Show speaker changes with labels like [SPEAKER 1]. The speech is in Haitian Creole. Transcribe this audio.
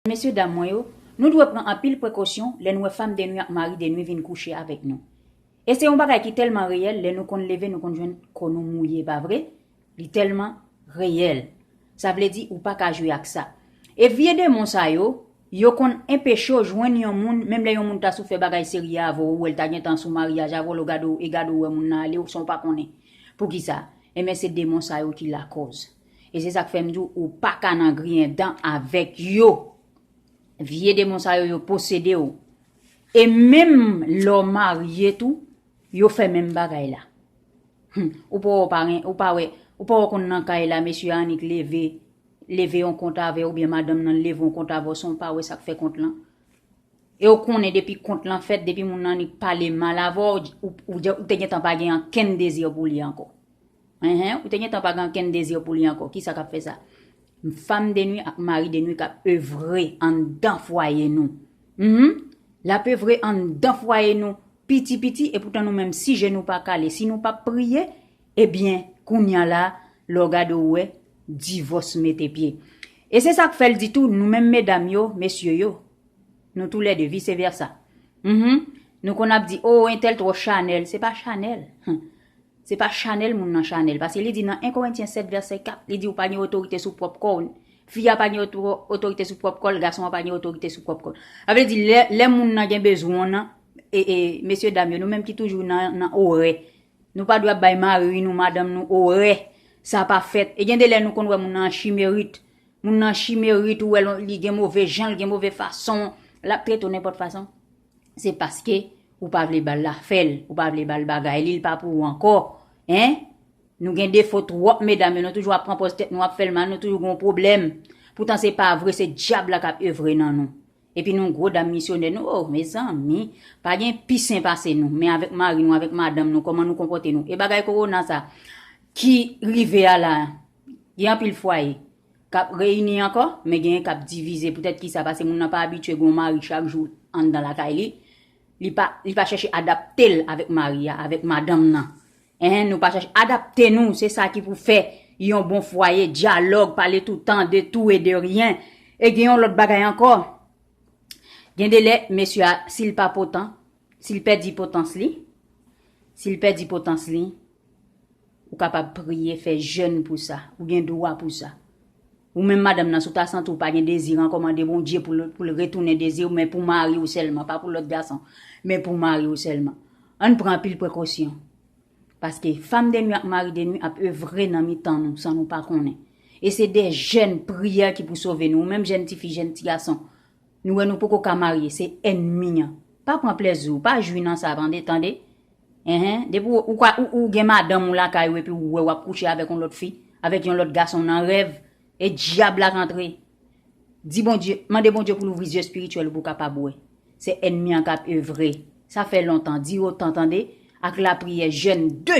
[SPEAKER 1] Mesye dam mwen yo, nou dwe pran anpil prekosyon lè n wè fam denwi ak mari denwi vin kouche avèk nou. E se yon bagay ki tèlman reyèl lè nou konn leve nou konn jwenn kò nou mouye pa vre? Li tèlman reyèl. Sa vle di ou pa ka jwe ak sa. E vye demon sa yo, yo konn enpeche w jwenn yon moun menm lè yon moun ta sou fè bagay serye avè w ou wè l ta gentan sou maryaj avè w lè w gade w e gade w wè moun nan ale w san w pa konnen. Poukisa? Enben se demon sa yo ki lakòz. E se sak fèm diw ou paka nan griyen dan avèk yo. Vye demon sa yo yo posedew. E menm lè w marye tou yo fè menm bagay la. Ou pa wè w pa gen, ou pa wè, ou pa wè w konn nan kay la mesye a annik leve, leve yon kont avèw oubyen madanm nan leve yon kont avèw san w pa wè sak fè kont lan. E w konnen depi kont lan fèt, depi moun nan annik pale mal avèw, ou te gentan pa gen ankenn dezi pou li ankò. Enh ou te gentan pa gen ankenn désir pou li ankò kisa kap fè sa? Femme de nuit ak mari de nuit kap evre anndan fwaye nou humm lap evre anndan fwaye nou piti piti epoutan nou menm si je nou pa kale si nou pap priye ebyen kounya la lè w gade w wè divòs mete pye e se sak fèl di tou nou menm medam yo mesye yo nou tou lè de vise vèsa humm nou konn ap di oh entèl twò chanèl se pa chanèl humm Se pa chanèl moun nan chanèl paske li di nan 1 Korentyen 7 vèsè 4 li di ou pa gen otorite sou pwòp kò w fi a pa gen otorite sou pwòp kò l gason an pa gen otorite sou pwòp kò l sa vle di lè moun nan gen bezwen w nan e mesye dam yo nou menm ki toujou nan orè nou pa dwe ap bay mari nou madanm nou orè sa pa fèt e gen de lè nou konn wè moun nan an chimerit moun nan chimerit ou wè l li gen move jan l gen move fason l ap trete w nenpòt fason. se paske ou pa vle bal la fèl ou pa vle bal bagay li li pa pou ou ankò hein nou gen defo twòp medam yo nou toujou ap pran pòz tèt nou ap fèl mal nou toujou gon pwoblèm poutan se pa vre se dyab la kap evre nan nou epi nou gwo dam misyonè nou oh mezanmi pa gen pi sen pase nou men avèk mari nou avèk madanm nou kòman nou konpòte nou e bagay kowona sa ki rive a la Gen anpil fwaye k ap reyini ankò, men genyen k ap divize. Poutèt ki sa? Pase moun nan pa abitye gen yon mari chak jou anndan lakay li. Li pa, li pa chèche adapte l avèk mari a, avèk madanm nan. Enhen, nou pa chèche adapte nou, se sa ki pou fè yon bon fwaye, dyalòg, pale toutan, de tou e de ryen. E gen yon lòt bagay ankò, gen de lè mesye a, si l pa potan, Si l pèdi potans li, Si l pèdi potans li, Ou kapab priye, fè jèn pou sa. Ou gen dwa pou sa. Ou menm madanm nan, si w ta santi w pa gen dezi l ankò, mande Bondye pou l retounen dezi w, men pou mari w sèlman, pa pou lòt gason, men pou mari w sèlman. Ann pran anpil prekosyon. Paske fam de nui ak mari de nui ap evre nan mitan nou san nou pa konnen. E se de jèn, priyè ki pou sove nou. Ou menm jèn tifi, jèn tigason. Nou wè nou poko ka marye se ènmi an pa pran plèzi w pa jwi nan sa tande tande eh depi w ka ou gen madanm ou lakay ou epi ou wè wap kouche avèk yon lòt fi avèk yon lòt gason nan rèv e dyab la k antre di Bondye mande Bondye pou l ouvri zye espirityèl ou pou w kapab wè se ènmi an kap evre sa fè lontan di otan tande ak lapriyè jèn de